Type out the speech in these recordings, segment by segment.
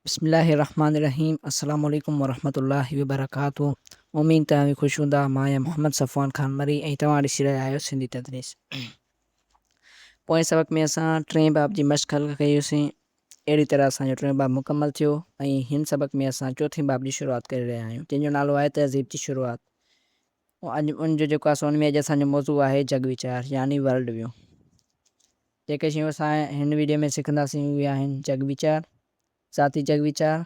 بسم الله الرحمٰن الرحيم السلام عليڪم ورحمة الله وبرڪاته اميد ته اوهين خوش هوندا مان آهيان محمد صفوان خان مري ۽ توهان ڏسي رهيا آهيو سنڌي تدريس پوئين سبق ۾ اسان ٽئين باب جي مشق حل ڪئي هيوسين اهڙي طرح اسان جو ٽيون باب مڪمل ٿيو ۽ هن سبق ۾ اسان چوٿين باب جي شروعات ڪري رهيا آهيون جنهن جو نالو آهي تهذيب جي شروعات اڄ ان جو جيڪو اسان ان ۾ اڄ اسان جو موضوع آهي جڳ ويچار يعني ورلڊ ويو. جيڪي شيون اسان هن ويڊيو ۾ سکنداسين اهي آهن جڳ ويچار، ذاتي جڳ ويچار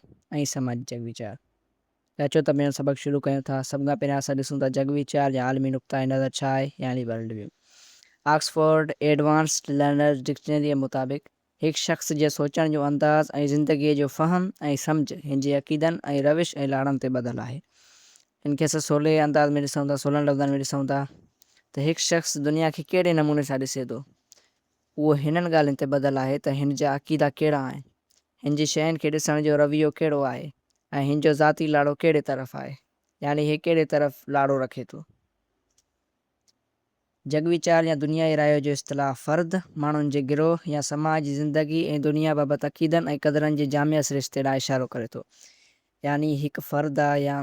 ۽ سماجي جڳ ويچار. ته اچو ته پنهنجو سبق شروع ڪيون ٿا. سڀ کان پهريان اسان ڏسون ٿا جڳ ويچار يا عالمي نقطه نظر ڇا آهي يعني world view. Oxford advanced learner's ڊڪشنريء مطابق هڪ شخص جي سوچڻ جو انداز ۽ زندگيء جو فهم ۽ سمجهه هن جي عقيدن ۽ روش ۽ لاڙن تي ٻڌل آهي. ان کي اسان سولي انداز ۾ ڏسون ٿا، سولن لفظن ۾ ڏسون ٿا ته هڪ شخص دنيا کي ڪهڙي نموني سان ڏسي ٿو، اهو هنن ڳالهين تي ٻڌل آهي ته هن جا عقيدا ڪهڙا آهن، هن جي شين کي ڏسڻ جو رويو ڪهڙو آهي ۽ هن جو ذاتي لاڙو ڪهڙي طرف آهي، يعني هي ڪهڙي طرف لاڙو رکي ٿو. جڳ ويچار يا دنيائي رايو جو اصطلاح فرد، ماڻهن جي گروهه يا سماج جي زندگي ۽ دنيا بابت عقيدن ۽ قدرن جي جامع سرشتي ڏانهن اشارو ڪري ٿو. يعني هڪ فرد آ يا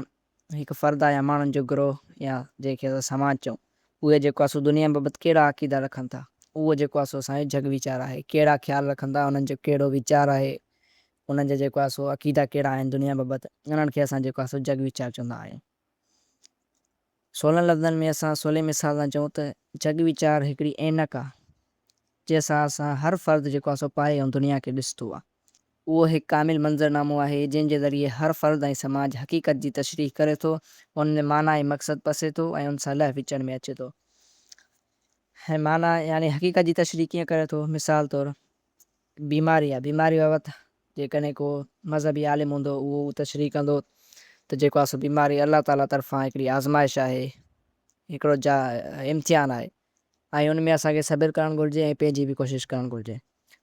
هڪ فرد آ يا ماڻهن جو گروهه يا جنهن کي اسان سماج چئون، اهي جيڪو آ سو دنيا بابت ڪهڙا عقيدا رکن ٿا، اهو جيڪو آ سو اسان جو جڳ ويچار آهي، ڪهڙا خيال رکن ٿا، انهن جو ڪهڙو ويچار آهي، انهن جا جيڪو آ سو عقيدا ڪهڙا آهن دنيا بابت، انهن کي اسان جيڪو آ سو جڳ ويچار چوندا آهيون. سولن لفظن ۾ اسان سولي مثال سان چئون ته جڳ ويچار هڪڙي عينڪ آ، جنهن سان اسان هر فرد جيڪو آ سو پائي ۽ دنيا کي ڏسندو آ. اهو هڪ ڪامل منظر نامو آهي، جنهن جي ذريعي هر فرد ۽ سماج حقيقت جي تشريح ڪري ٿو، ان ۾ معنيٰ ۽ مقصد پسي ٿو ۽ ان سان لئه وچڙ ۾ اچي ٿو. هي معنيٰ يعني حقيقت جي تشريح ڪيئن ڪري ٿو؟ مثال طور. بيماري يا بيماري بابت جيڪڏهن ڪو مذهبي عالم هوندو اهو تشريح ڪندو ته جيڪو آهي سو بيماري الله تعاليٰ طرفان هڪڙي آزمائش آهي، هڪڙو جا امتحان آهي ۽ ان ۾ اسان کي صبر ڪرڻ گهرجي ۽ پنهنجي به ڪوشش ڪرڻ گهرجي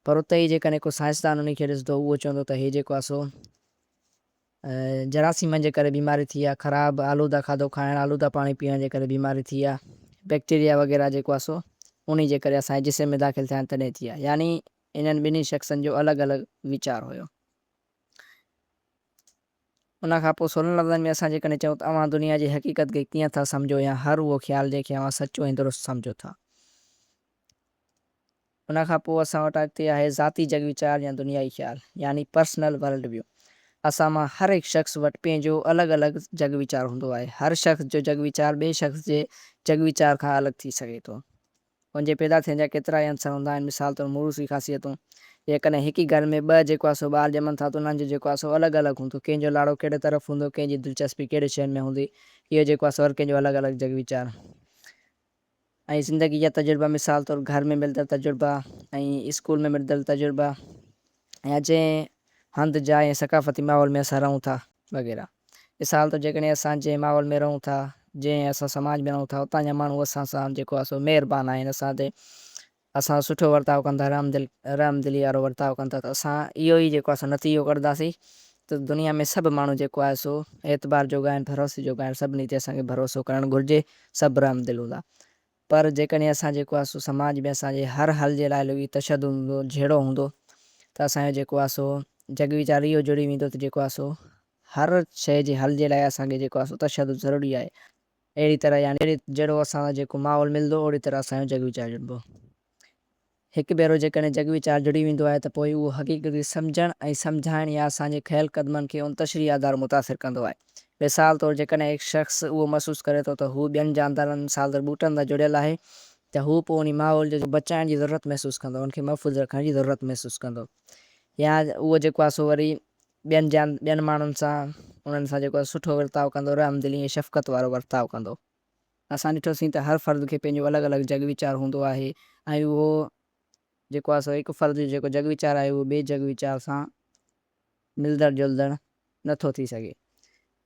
پر اتي ئي جيڪڏهن ڪو سائنسدان انهي کي ڏسندو اهو چوندو ته هي جيڪو آهي سو جراثيمن جي ڪري بيماري ٿي يا خراب آلوده کاڌو کائڻ آلوده پاڻي پيئڻ جي ڪري بيماري ٿي يا بيڪٽيريا وغيره جيڪو آهي سو انهي جي ڪري اسان جي جسم ۾ داخل ٿيا آهن تڏهن ٿي آهي يعني انهن ٻنهي شخصن جو الڳ الڳ ويچار هيو. ان کان پوء سولن لفظن ۾ اسان جيڪڏهن چئون ته اوهان دنيا جي حقيقت کي ڪيئن ٿا سمجهو يا هر اهو خيال جنهن کي اوهان سچو ۽ درست سمجهو ٿا. ان کان پوء اسان وٽ اڳتي آهي ذاتي جڳ ويچار يا دنيائي خيال يعني Personal World View. اسان مان هر هڪ شخص وٽ پنهنجو الڳ الڳ جڳ ويچار هوندو آهي. هر شخص جو جڳ ويچار ٻئي شخص جي جڳ ويچار کان الڳ ٿي سگهي ٿو. ان جي پيدا ٿيڻ جا ڪيترا ئي عنصر هوندا آهن مثال طور موروثي خاصيتون. جيڪڏهن هڪ ئي گهر ۾ ٻه جيڪو آهي سو ٻار ڄمن ٿا ته انهن جو جيڪو آهي سو الڳ الڳ هوندو. ڪنهن جو لاڙو ڪهڙي طرف هوندو، ڪنهن جي دلچسپي ڪهڙي شين ۾ هوندي اهو جيڪو آهي سو هر ڪنهن جو الڳ الڳ جڳ ويچار. ۽ زندگي جا تجربا مثال طور گهر ۾ ملدڙ تجربا ۽ اسڪول ۾ ملدڙ تجربا يا جنهن هنڌ جاء ۽ ثقافتي ماحول ۾ اسان رهون ٿا وغيره مثال طور جيڪڏهن اسان جنهن ماحول ۾ رهون ٿا جنهن اسان سماج ۾ رهون ٿا اتان جا ماڻهو اسان سان جيڪو آهي سو مهربان آهن اسان تي اسان سٺو ورتاء ڪن ٿا، رحم دلي وارو ورتاء ڪن ٿا ته اسان اهو ئي جيڪو آهي سو نتيجو ڪڍنداسين ته دنيا ۾ سڀ ماڻهو جيڪو آهي سو اعتبار جوڳا آهن، ڀروسي جوڳا آهن، سڀني تي اسان کي ڀروسو ڪرڻ گهرجي، سڀ رحم دل هوندا. پر جيڪڏهن اسان جيڪو آهي سو سماج ۾ اسان جي هر حل جي لاء لڳي تشدد هوندو، جهيڙو هوندو ته اسان جو جيڪو آهي سو جڳ ويچار اهو جڙي ويندو ته جيڪو آهي سو هر شيء جي حل جي لاء اسان کي جيڪو آهي سو تشدد ضروري آهي. اهڙي طرح يعني جهڙو اسان سان جيڪو ماحول ملندو اوڙي طرح اسان جو جڳ ويچار جڙبو. هڪ ڀيرو جيڪڏهن جڳ ويچار جڙي ويندو آهي ته پوء اهو حقيقت کي سمجهڻ ۽ سمجهائڻ يا اسان جي کنيل قدمن کي ان تشريح آڌار متاثر ڪندو آهي. مثال طور جيڪڏهن هڪ شخص اهو محسوس ڪري ٿو ته هو ٻين جاندارن مثال طور ٻوٽن سان جڙيل آهي ته هو پوء انهي ماحول جي بچائڻ جي ضرورت محسوس ڪندو ان کي محفوظ رکڻ جي ضرورت محسوس ڪندو يا اهو جيڪو آهي سو وري ٻين جيان ٻين ماڻهن سان انهن سان جيڪو سٺو ورتاء ڪندو، رحم دلي ۽ شفقت وارو ورتاء ڪندو. اسان ڏٺوسين ته هر فرد کي پنهنجو الڳ الڳ جڳ ويچار هوندو آهي ۽ اهو جيڪو آهي سو هڪ فرد جو جيڪو جڳ ويچار آهي اهو ٻئي جڳ ويچار سان ملندڙ جلندڙ نه ٿو ٿي سگهي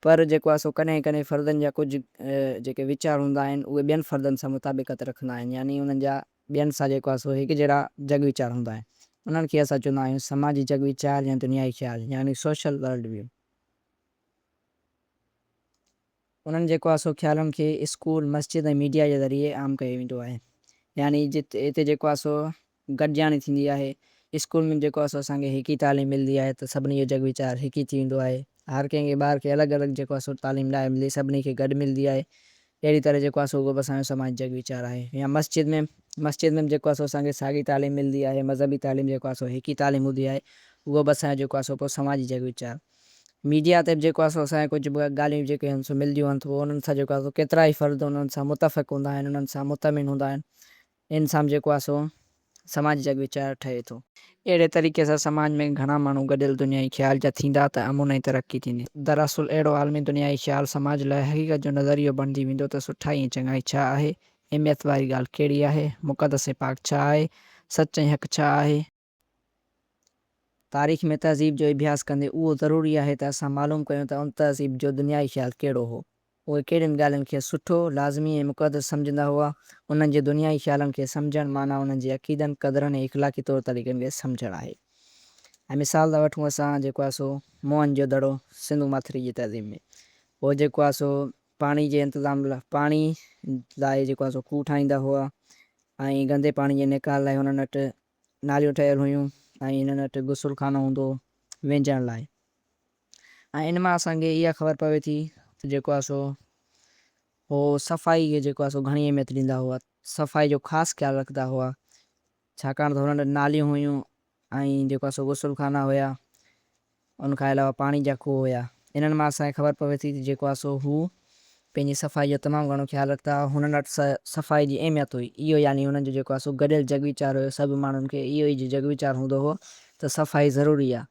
پر جيڪو آهي سو ڪڏهن ڪڏهن فردن جا ڪجهه جيڪي ويچار هوندا آهن اهي ٻين فردن سان مطابقت رکندا آهن يعني انهن جا ٻين سان جيڪو آهي سو هڪجهڙا جڳ ويچار هوندا آهن. انهن کي اسان چوندا آهيون سماجي جڳ ويچار يا دنيائي خيال يعني Social World View. انهن جيڪو آهي سو خيالن کي اسڪول، مسجد ۽ ميڊيا جي ذريعي عام ڪيو ويندو آهي. يعني جت هتي جيڪو آهي سو گڏجاڻي ٿيندي آهي. اسڪول ۾ جيڪو آهي سو اسان کي هڪ ئي تعليم ملندي آهي ته سڀني جو جڳ ويچار هڪ ئي ٿي ويندو آهي. هر ڪنهن کي ٻار کي الڳ الڳ جيڪو آهي سو تعليم ناهي ملندي سڀني کي گڏ ملندي آهي. اهڙي طرح جيڪو آهي سو اهو به اسان جو سماجي جڳ ويچار آهي يا مسجد ۾ مسجد ۾ به جيڪو آهي سو اسان کي ساڳي تعليم ملندي آهي مذهبي تعليم جيڪو آهي سو هڪ ئي تعليم هوندي آهي اهو به اسان جو جيڪو آهي سو پوء سماجي جڳ ويچار ميڊيا تي به جيڪو آهي سو اسان کي ڪجهه به ڳالهيون جيڪي آهن سو ملنديون آهن سو انهن سان جيڪو آهي سو ڪيترا ئي فرد انهن سان متفق هوندا آهن انهن سان مطمئن هوندا آهن انسان جيڪو آهي سو سماجي جڳ ويچار ٺهي ٿو. اهڙي طريقي سان سماج ۾ گهڻا ماڻهو گڏيل دنيائي خيال جا ٿيندا ته امن ۽ ترقي ٿيندي. دراصل اهڙو عالمي دنيائي خيال سماج لاء حقيقت جو نظريو بڻجي ويندو ته سٺائي ۽ چڱائي ڇا آهي، اهميت واري ڳالهه ڪهڙي آهي، مقدس ۽ پاڪ ڇا آهي، سچ ۽ حق ڇا آهي، تاريخ ۾ تهذيب جو اڀياس ڪندي اهو ضروري آهي ته اسان معلوم ڪيون ته ان تهذيب جو دنيائي خيال ڪهڙو هو، اهي ڪهڙين ڳالهين کي سٺو، لازمي ۽ مقدس سمجهندا هئا، انهن جي دنيائي خيالن کي سمجهڻ معنيٰ انهن جي عقيدن، قدرن ۽ اخلاقي طور طريقن کي سمجهڻ آهي ۽ مثال ته وٺون اسان جيڪو آهي سو موهن جو دڙو سنڌو ماٿري جي تهذيب ۾ اهي جيڪو آهي سو پاڻي جي انتظام لاء پاڻي لاء جيڪو آهي سو کوهه ٺاهيندا هئا ۽ گندي پاڻي جي نيڪال لاء هنن وٽ ناليون ٺهيل هيون ۽ انهن وٽ غسل خانو هوندو هو وينجهڻ لاء ۽ ان مان اسان کي اها خبر پوي ٿي ته جيڪو آهي سو هو صفائي کي جيڪو آهي سو گهڻي اهميت ڏيندا هئا صفائي جو خاص خيال رکندا هئا ڇاڪاڻ ته هنن وٽ ناليون هيون ۽ جيڪو آهي سو غسل خانا هيا ان کان علاوه پاڻي جا کوهه هيا. انهن مان اسان کي خبر پوي ٿي ته جيڪو آسو هو پنهنجي صفائي جو تمام گهڻو خيال رکندا هئا. هنن وٽ صفائي جي اهميت هئي. اهو يعني هنن جو جيڪو آسو گڏيل جڳ ويچار هيو. سڀ ماڻهن کي اهو ئي جڳ ويچار هوندو هو ته صفائي ضروري آ.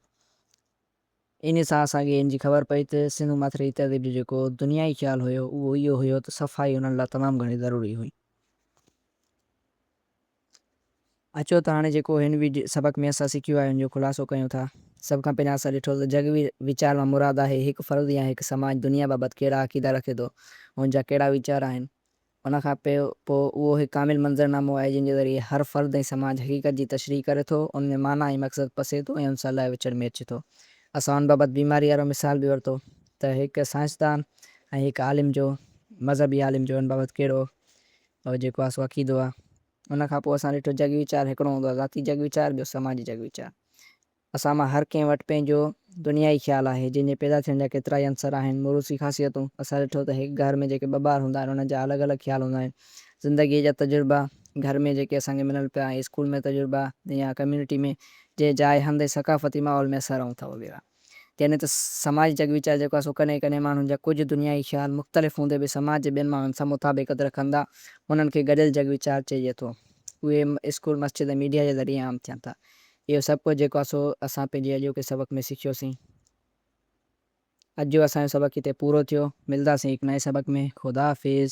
انهي سان اسان کي ان جي خبر پئي ته سنڌو ماٿريء تهذيب جو جيڪو دنيائي خيال هيو اهو اهو هيو ته صفائي هنن لاء تمام گهڻي ضروري هئي. اچو ته هاڻي جيڪو هن وي سبق ۾ اسان سکيو آهي ان جو خلاصو ڪيون ٿا. سڀ کان پهريان اسان ڏٺو ته جڳ وي ويچار مان مراد آهي هڪ فرد يا هڪ سماج دنيا بابت ڪهڙا عقيدا رکي ٿو ۽ ان جا ڪهڙا ويچار آهن. ان کان پي پو اهو هڪ ڪامل منظر نامو آهي جنهن جي ذريعي هر فرد ۽ سماج حقيقت جي تشريح ڪري ٿو، ان ۾ معنيٰ ۽ مقصد پسي ٿو ۽ ان سان لئه وچڙ ۾ اچي ٿو. اسان ان بابت بيماري وارو مثال به ورتو ته هڪ سائنسدان ۽ هڪ عالم جو، مذهبي عالم جو ان بابت ڪهڙو او جيڪو آ سو عقيدو آ. ان کان پوء اسان ڏٺو جڳ ويچار هڪڙو هوندو آ ذاتي جڳ ويچار ٻيو سماجي جڳ ويچار. اسان مان هر ڪنهن وٽ پنهنجو دنيائي خيال آهي جنهن جي پيدا ٿيڻ جا ڪيترائي عنصر آهن موروثي خاصيتون اسان ڏٺو ته هڪ گهر ۾ جيڪي ٻه ٻار هوندا آهن انهن جا الڳ الڳ خيال هوندا آهن زندگيء جا تجربا گهر ۾ جيڪي اسان کي ملن پيا ۽ اسڪول ۾ تجربا يا ڪميونٽي ۾ جنهن جاء هنڌ ۽ ثقافتي ماحول ۾ اسان رهون ٿا وغيره. يعني ته سماجي جڳ ويچار جيڪو آهي سو ڪڏهن ڪڏهن ماڻهن جا ڪجهه دنيائي خيال مختلف هوندي به سماج جي ٻين ماڻهن سان مطابقت رکندا انهن کي گڏيل جڳ ويچار چئجي ٿو. اهي اسڪول، مسجد ۽ ميڊيا جي ذريعي عام ٿين ٿا. اهو سڀ ڪجهه جيڪو آهي سو اسان پنهنجي اڄوڪي سبق ۾ سکيوسين. اڄ جو اسان جو سبق هتي پورو ٿيو. ملداسين هڪ نئين سبق ۾. خداحافظ.